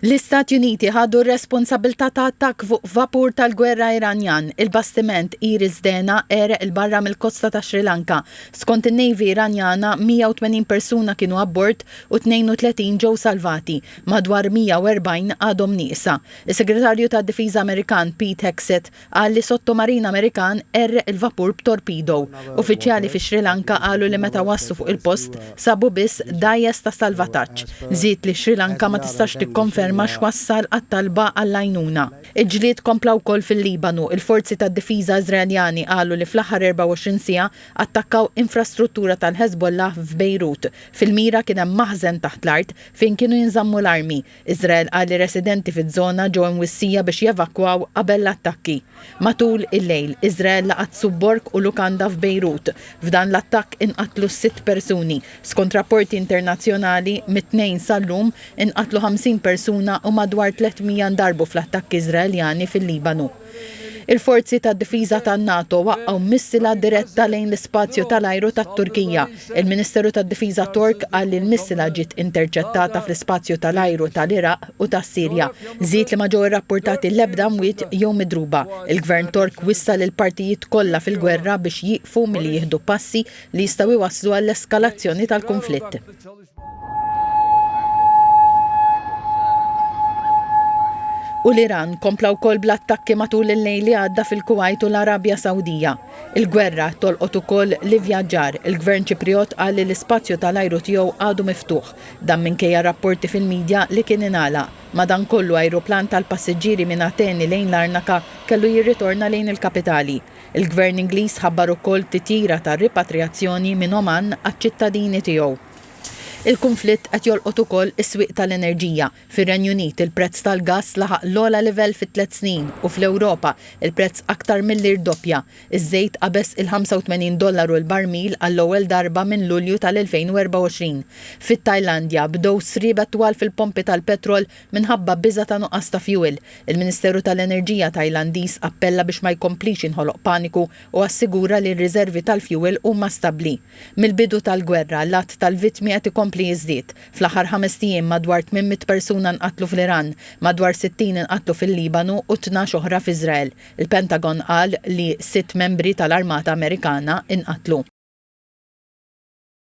L-Istati Uniti ħadu r-responsabbiltà ta' attakk fuq vapur tal-gwerra Iranjan, il-bastiment Iris Dena għereq 'il barra mill-kosta ta' Sri Lanka. Skont in-Navy Iranjana, 180 persuna kienu abbord u 32 ġew salvati, madwar 140 għadhom nieqsa. Is-Segretarju tad-Difiża Amerikan Pete Hegseth qal li sottomarin Amerikan qerreq il-vapur b'torpido. Uffiċjali fis-Sri Lanka qalu li meta waslu fuq il-post sabu biss dgħajjes ta' salvataġġ. Żied li Sri Lanka ma tistax tikkonferma x'wassal għat-talba għall-għajnuna. Il-ġlied kompla wkoll fil-Libanu. Il-forzi tad-difiża Iżraeljani qalu li fl-aħħar 24 siegħa attakkaw infrastruttura tal-Hezbollah f'Bejrut. Fil-mira kien hemm maħżen taħt l-art fejn kienu jinżammu l-armi. Iżrael qal li residenti fiż-żona ġew imwissija biex jevakwaw qabel l-attakki. Matul il-lejl, Iżrael laqat subborg u lukanda f'Bejrut. F'dan l-attakk inqatlu sitt persuni. Skont rapporti internazzjonali, mit-Tnejn sal-lum, inqatlu 50 persuna u madwar 300 ndarbu fl-attakki Iżraeljani fil-Libanu. Il-forzi tad-difiża tan-NATO waqqgħu missila diretta lejn l-ispazju tal-ajru tat-Turkija. Il-Ministeru tad-Difiża Tork qal li l-missila ġiet interċettata fl-ispazju tal-ajru tal-Iraq u tas-Sirja. Żied li ma ġew irrappurtati l-ebda mwiet jew midruba. Il-Gvern Tork wissa lill-partijiet kollha fil-gwerra biex jieqfu milli jieħdu passi li jistgħu jwasslu għall-eskalazzjoni tal-kunflitt. u l-Iran kompla wkoll bl-attakki matul il-lejl li għadda fil-Kuwait u l-Arabja Sawdija. Il-gwerra tolqot ukoll li vjaġġar il-Gvern Ċipriot qal li l-ispazju tal-ajru tiegħu għadu miftuħ dan minkejja rapporti fil-midja li kien inala. Madankollu ajruplan tal-passiġġieri minn Ateni lejn Larnaka kellu jirritorna lejn il-kapitali. Il-Gvern Ingliż ħabbar ukoll titjira ta' ripatrijazzjoni minn Oman għaċ-ċittadini tiegħu. Il-kunflitt qed jolqot ukoll is-swieq tal-enerġija. Fir-Renju Unit il-prezz tal-gass laħaq l-ogħla livell fi tliet snin u fl-Ewropa il-prezz aktar milli rdoppja. Iż-żejt qabeż il-85 dollaru l-barmil għall-ewwel darba minn Lulju tal-2024. Fit-Tajlandja bdew sriebet twal fil-pompi tal-petrol Minħabba biża' ta' nuqqas ta' fjuwil, il-Ministeru tal-Enerġija Tajlandiż appella biex ma jkomplix jinħoloq paniku u assigura li r-riżervi tal-fjuwil huma stabbli. Mill-bidu tal-gwerra, l-għadd tal-vittmi qed ikompli jiżdied. Fl-aħħar ħamest ijiem, madwar tmien mitt persuna nqatlu fl-Iran, madwar sittin inqatlu fil-Libanu u tnax oħra f'Iżrael. Il-Pentagon qal li sitt membri tal-armata Amerikana nqatlu.